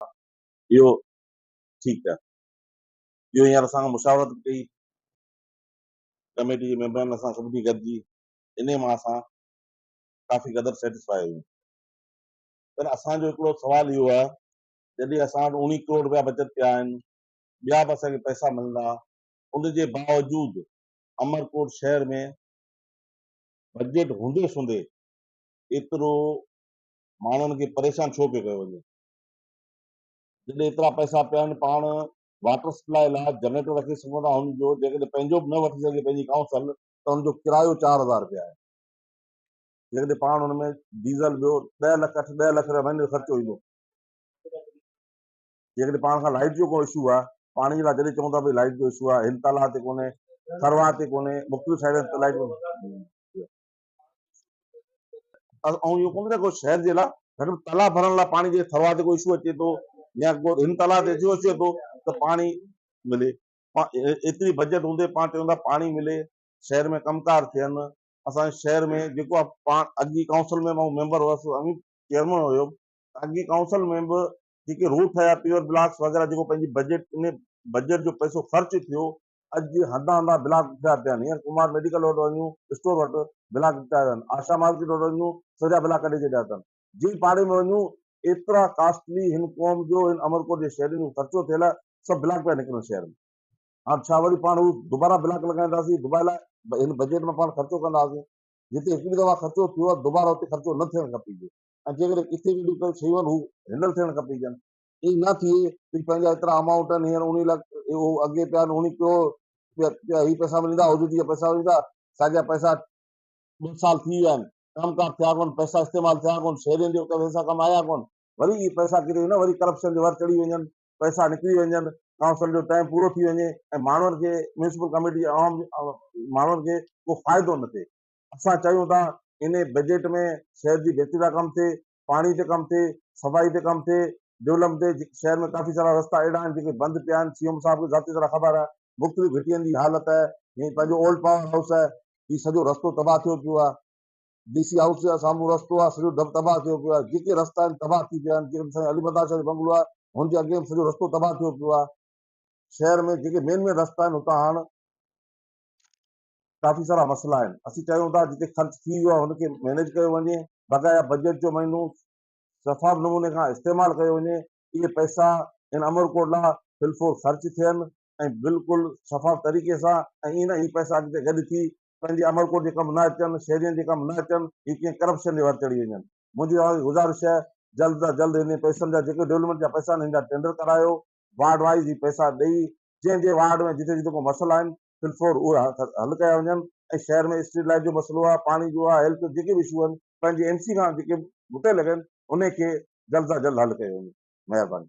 اهو ٺيڪ ڪيا. اهو هينئر اسان سان مشاورت به ڪئي. ڪميٽي جي ميمبرن اسان سڀني گڏجي انهي مان اسان ڪافي قدر سيٽسفاء آهيون. پر اسان جو هڪڙو سوال اهو آهي جڏهن اسان وٽ اوڻيهه ڪروڙ رپيا بچت پيا آهن، ٻيا به اسان کي پئسا ملندا، ان جي باوجود عمرڪوٽ شهر ۾ بجيٽ هوندي سوندي ايترو ماڻهن کي پريشان ڇو پيو ڪيو وڃي؟ جڏهن ايترا پئسا پيا آهن پاڻ واٽر سپلاء لاء جنريٽر رکي سگهون ٿا هن جو جيڪڏهن پنهنجو به نه وٺي سگهجي پنهنجي ڪائونسل ته هن جو ڪرايو چار هزار رپيا آهي جيڪڏهن پاڻ هن ۾ ڊيزل ويو ڏهه لک اٺ ڏهه لک رپيا مهيني جو خرچو ايندو جيڪڏهن پاڻ کان لائٽ جو ڪو اشو آهي پاڻي جي لاء جڏهن چون ٿا ڀائی لائٽ جو اشو آهي هل تالاب تي ڪونهي ٿرواهه تي ڪونهي مختلف سائيڊن تي لائٽ ۽ اهو ڪونه ٿي سگهي شهر جي لاء گهٽ ۾ تلا ڀرڻ لاء پاڻي جي ٿروا تي ڪو اشو اچي ٿو يا ڪو هن تلا تي اشو اچي ٿو ته پاڻي ملي ايتري بجيٽ هوندي پاڻ چون ٿا پاڻي ملي شهر ۾ ڪم ڪار ٿين اسان شهر ۾ جيڪو آهي پاڻ اڳي ڪائونسل ۾ مون ميمبر هوس امي چيئرمن هيو اڳي ڪائونسل ۾ به جيڪي روڊ ٺهيا پيور بلاڪس وغيره جيڪو پنهنجي بجيٽ ان بجيٽ جو پئسو خرچ ٿيو اڄ هنڌان هنڌان بلاڪ ٺهيا پيا آهن، هينئر ڪمار ميڊيڪل وٽ وڃون اسٽور وٽ بلاڪ ٺهيا ويا آهن، آشا مارڪيٽ وٽ وڃون سڄا بلاڪ ڪڍي ڇڏيا اٿن، جنهن پاڙي ۾ وڃون ايترا ڪاسٽلي هن قوم جو هن امرڪوٽ جي شهرين جو خرچو ٿيل آهي، سڀ بلاڪ پيا نڪرن شهر ۾، هاڻ ڇا وري پاڻ هو دوبارا بلاڪ لڳائينداسين، دباء لاء هن بجيٽ مان پاڻ خرچو ڪنداسين، جتي هڪڙي دفعا خرچو ٿيو آهي دوبارا اتي خرچو نه ٿيڻ کپيجي ۽ جيڪڏهن ڪٿي به ڪجهه شيون آهن هو هينڊل ٿيڻ کپيجن، ايئن نه ٿئي ڀي پنهنجا ايترا امائونٽ آهن هينئر انهي لاء اهو اڳي پيا آهن انهي ڪيو پيا هي پئسا ملندا هو جي پئسا ملندا ساڳيا پئسا ٻه سال ٿي ويا آهن ڪم ڪار ٿيا ڪون پئسا استعمال ٿيا ڪون شهرين جي پئسا ڪم آيا ڪون وري اهي پئسا ڪري نه وري ڪرپشن جي ور چڙهي وڃن پئسا نڪري وڃن ڪائونسل جو ٽائيم پورو ٿي وڃي ۽ ماڻهن کي ميونسپل ڪميٽي جي عوام ماڻهن کي ڪو فائدو نه ٿئي اسان چاهيون ٿا انهي بجيٽ ۾ شهر جي بهتري لاء ڪم ٿئي پاڻي تي ڪم ٿئي، صفائي تي ڪم ٿئي، ڊولم تي جيڪي شهر ۾ ڪافي سارا رستا اهڙا آهن جيڪي بند پيا آهن، سي ايم صاحب کي ذاتي طرح خبر آهي، مختلف گهٽين جي حالت آهي، جيئن پنهنجو اولڊ پاور هائوس آهي، هي سڄو رستو تباهه ٿيو پيو آهي، ڊي سي هائوس جي سامهون رستو آهي سڄو تباهه ٿيو پيو آهي، جيڪي رستا آهن تباهه ٿي پيا آهن، جيڪي سائين علي مردان شاهه جو بنگلو آهي هن جي اڳيان به سڄو رستو تباهه ٿيو پيو آهي، شهر ۾ جيڪي مين مين رستا آهن اتان هاڻ. ڪافي سارا مسئلا آهن اسين چاهيون ٿا جتي خرچ ٿي ويو آهي ان کي مينيج ڪيو وڃي بقايا بجيٽ جو مهينو شفاف نموني کان استعمال ڪيو وڃي اهي پئسا ان امر ڪوٽ لا فلفور خرچ ٿين ۽ بلڪل شفاف طريقي سان ۽ ائين نه هي پئسا اڳتي گڏ ٿي پنهنجي امر ڪوٽ جي ڪم نه اچن شهرين جي ڪم نه اچن هي ڪنهن ڪرپشن جي ور چڙهي وڃن منهنجي توهان کي گذارش آهي جلد تان جلد هن پئسن جا جيڪي ڊولپمينٽ جا پئسا آهن هن جا ٽينڊر ڪرايو وارڊ وائيز هي پئسا ڏئي جنهن جنهن وارڊ ۾ جتي جتي ڪو مسئلا آهن في الفور اهي حل ڪيا وڃن ۽ شهر ۾ اسٽريٽ لائيٽ جو مسئلو آهي، پاڻي جو آهي، هيلٿ جو جيڪي به اشو آهن پنهنجي ايم سي کان جيڪي به مطلع لڳن انهي کي جلد سان جلد حل ڪيو وڃي. مهرباني.